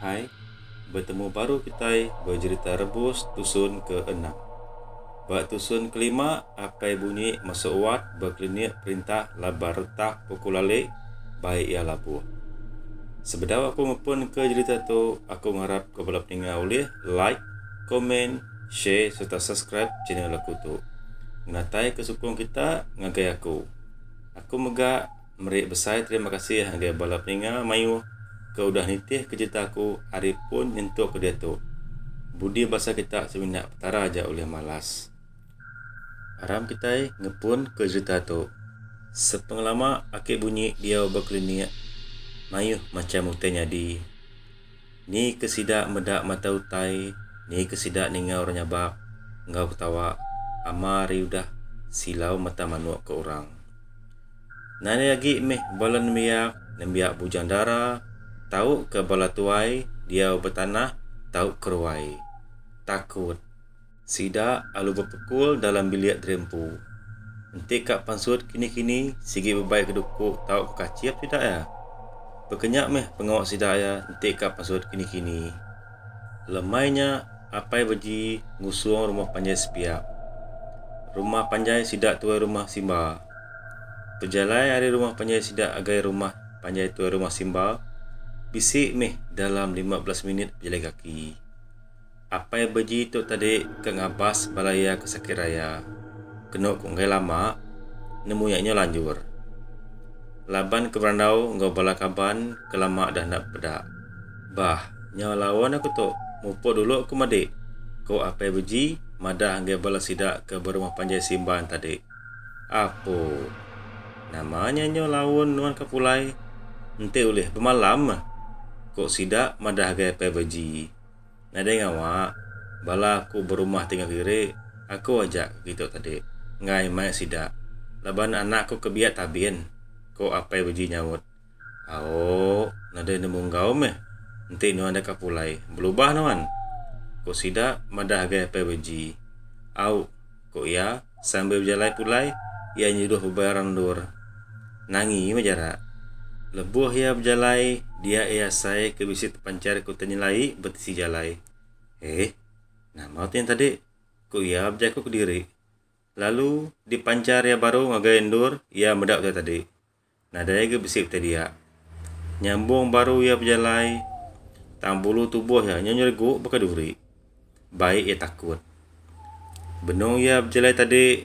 Hai, betemu baru kitai bejerita rebus tusun keenam. Ba tusun kelima, apai bunyi mesu Wat bekelinik perintah laban retak pukul ali bai iya labuh. Sebedau aku ngepunka jerita tu, aku ngarap ke bala peninga ulih like, komen. share sereta subscribe channel aku tu. Menatai ke sukung kita ngagai aku. Aku mega meri besai terima kasih ngagai bala peninga mayuh ke udah nitih ke cerita aku ari pun nyentuk ke diatu. Budi basa kita semina Petara aja ulih malas. Aram kitai ngepun ke cerita tu. Sepengelama ake bunyi diau ba klinik mayuh macham utai nyadi. Ni ke sida meda mata utai, ni ke sida ninga orang nyabak enggau ketawa ama ari udah silau mata manuk ke orang. Nadai agi meh bala nembiak, nembiak bujang dara, tau ke bala tuai diau betanah tau keruai. Takut. Sida alu bepekul dalam bilik diri empu. Enti ka pansut kini-kini sigi bebai ke duku tau bekachip sida iya. Baka nya meh pengawa sida iya enti ka pansut kini-kini. Lemai nya Apai Beji ngusung rumah panjai sepiak. Rumah panjai sida tuai rumah Simba. Pejalai ari rumah panjai sida agai rumah panjai tuai rumah Simba bisi meh dalam lima belas minit pejalai kaki. Apai beji tu tadi ke ngabas bala iya ke sakit raya kenu ku enggai lama nemu iya nyau lanjur laban ke berandau enggau bala kaban ke lama dah enda bepeda. Bah, nyau laun aku tu, mupuk dulu aku madi, ku Apai Beji madah enggai bala sida ke berumah panjai Simban tadi. Apo. Nama nya nyau laun nuan ka pulai? Enti ulih bemalam meh, ku sida madah agai Apai Beji. Nadai ngawa, bala aku berumah ti enggau diri, aku aja ke kitu tadi, enggai mai sida. Laban anak aku ke biak tabin, ko Apai Beji nyaut. Aok, nadai nemu enggau meh, enti nuan deka pulai, belubah nuan, ko sida madah agai Apai Beji. Au. Ku iya, sambil bejalai pulai, iya nyuduh bebaya orang endur. Nangi meh jarak. Lebuh iya bejalai, dia iya asai ke bisi tepanchar ku tenyelai betisi jalai. Eeh, nama tu nyadi tadi? Ku iya bejaku kediri. Lalu, dipanchar iya baru ngagai endur iya meda utai tadi. Nadai agi besi petai dia. Nyambung baru iya bejalai tang bulu tubuh iya nyau nyeregu baka duri. Bai iya takut. Benung iya bejalai tadi,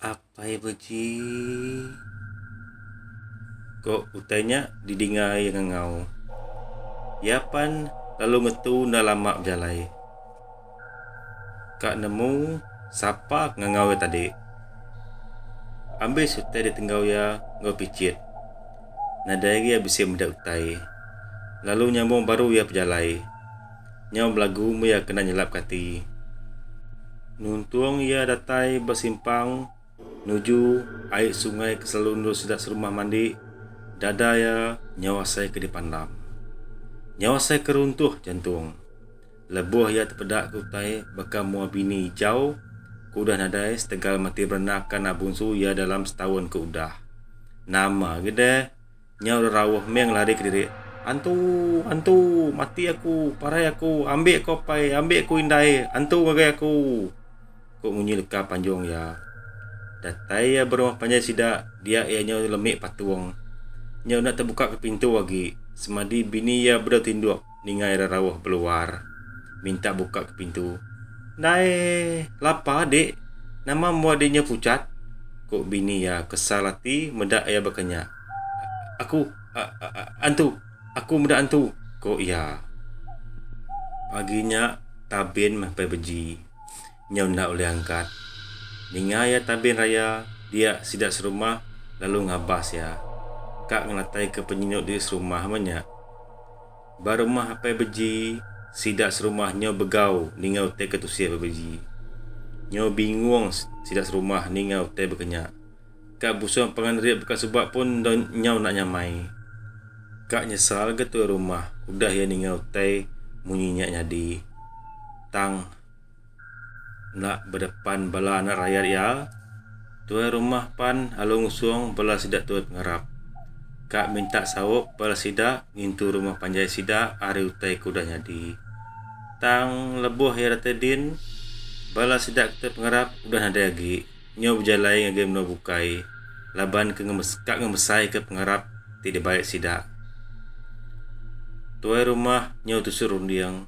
Apai beji! Ko utai nya didinga iya ngangau. Iya pan lalu ngetu enda lama bejalai. Ka nemu sapa ke ngangau iya tadi. Ambis utai ditenggau iya enggau pichit. Nadai agi iya bisi meda utai. Lalu nyambung baru iya pejalai. Nyau belagu meh iya kena nyelapka ati. Nuntung iya datai ba simpang nuju ai sungai ke selalu endur sida serumah mandi, dada iya nyau asai ke dipanam. Nyau asai ke runtuh jantung. Lebuh iya tepeda ke utai baka mua bini ijau ke udah nadai setegal mati berenak ka anak bungsu iya dalam setaun ke udah. Nama agi deh, nya orang rauh meh ngelari kediri, Antu! Antu! Mati aku! Parai aku! Ambi aku apai! Ambi aku indai! Antu ngagai aku! Ku munyi leka panjung iya. Datai iya berumah panjai sida, dia iya nyau lemi patung. Nyau enda tebukaka pintu agi, semadi bini iya bedau tinduk. ningai rerauh beluar minta buka ke pintu. Ndai lapa dik, nama mua dik nyau pucat? ku bini iya kesal ati meda iya baka nya. Aku antu, aku meda antu, ku iya. Pagi nya Tabin meh pai beji. Nyau enda ulih angkat. Ninga iya Tabin raya dia sida serumah lalu ngabas iya. Ka ngelataika penyinup diri serumah meh nya. Ba rumah apai beji, sida serumah nyau begau ninga utai ke tusih apai beji. Nyau bingung sida serumah ninga utai bekenya. Ka busung pangan ria baka suba pun enda nyau enda nyamai. Ka nyesal ga tuai rumah udah iya ninga utai munyi nya nyadi. Tang. enda bedepan bala anak rayat iya, tuai rumah pan alu ngusung bala sida tuai pengarap ka minta saup bala sida ngintu rumah panjai sida ari utai ke udah nyadi. Tang lebuh iya datai din, bala sida ke tuai pengarap udah nadai agi nyau bejalai ngagai menua bukai laban ke ka ngemesaika pengarap ti dibai sida. Tuai rumah nyau tusur runding.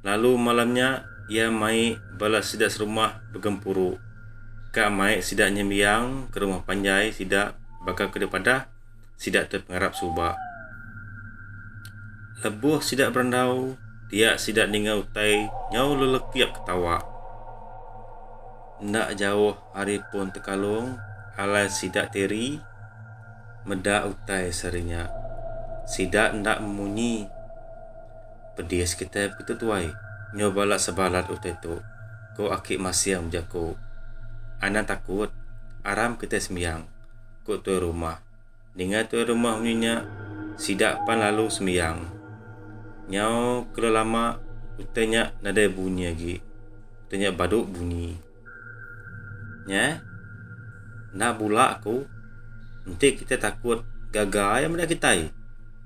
lalu malam nya iya mai bala sida serumah begempuru. Ka mai sida nyembiang ke rumah panjai sida baka ke dipadah sida tu pengarap suba. Lebuh sida berandau, dia sida ninga utai nyau lelekik ketawa. Enda jauh ari pun Tekalong, alai sida Terry meda utai sehari nya. Sida enda memunyi. Pedis kitai begitu tuai, nyau balat sebalat utai tu, ku Aki Masing bejaku. Anang takut, aram kitai sembiang, ku tuai rumah. Ninga tuai rumah munyi nya, sida pan lalu sembiang. Nyau kelelama utai nya nadai bunyi agi. Utai nya badu bunyi. Nyeh. Enda bula aku. Enti kitai takut gaga iya meda kitai,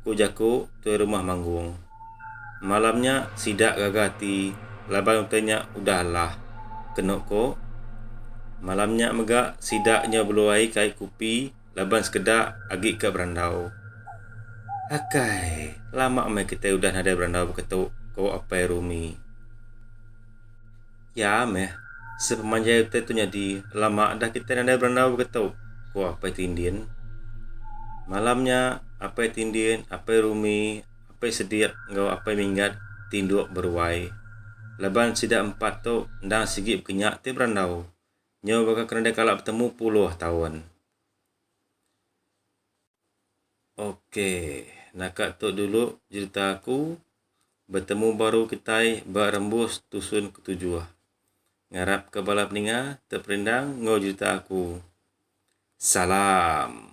ku jaku Tui Rumah Manggung. Malam nya sida gaga ati laban utai nya udah alah, kenu ko. Malam nya mega sida nyau beluai kai kupi laban sekeda agi ka berandau. Akai, lama meh kitai udah nadai berandau beketu, ku Apai Rumi. Ya meh, sepemanjai utai tu nyadi, lama dah kitai nadai berandau begetu, ku Apai Tindin. Malam nya, Apai Tindin, Apai Rumi, Apai Sedik enggau Apai Minggat tinduk beruai. Laban sida empat tu endang sigi bekenya ti berandau, nyau baka ke nadai kala betemu puluh taun. Ok naka tu dulu cerita aku betemu baru kitai ba rembus tusun ketujuh. Ngarap ke bala peninga teperindang enggau cerita aku. Salam.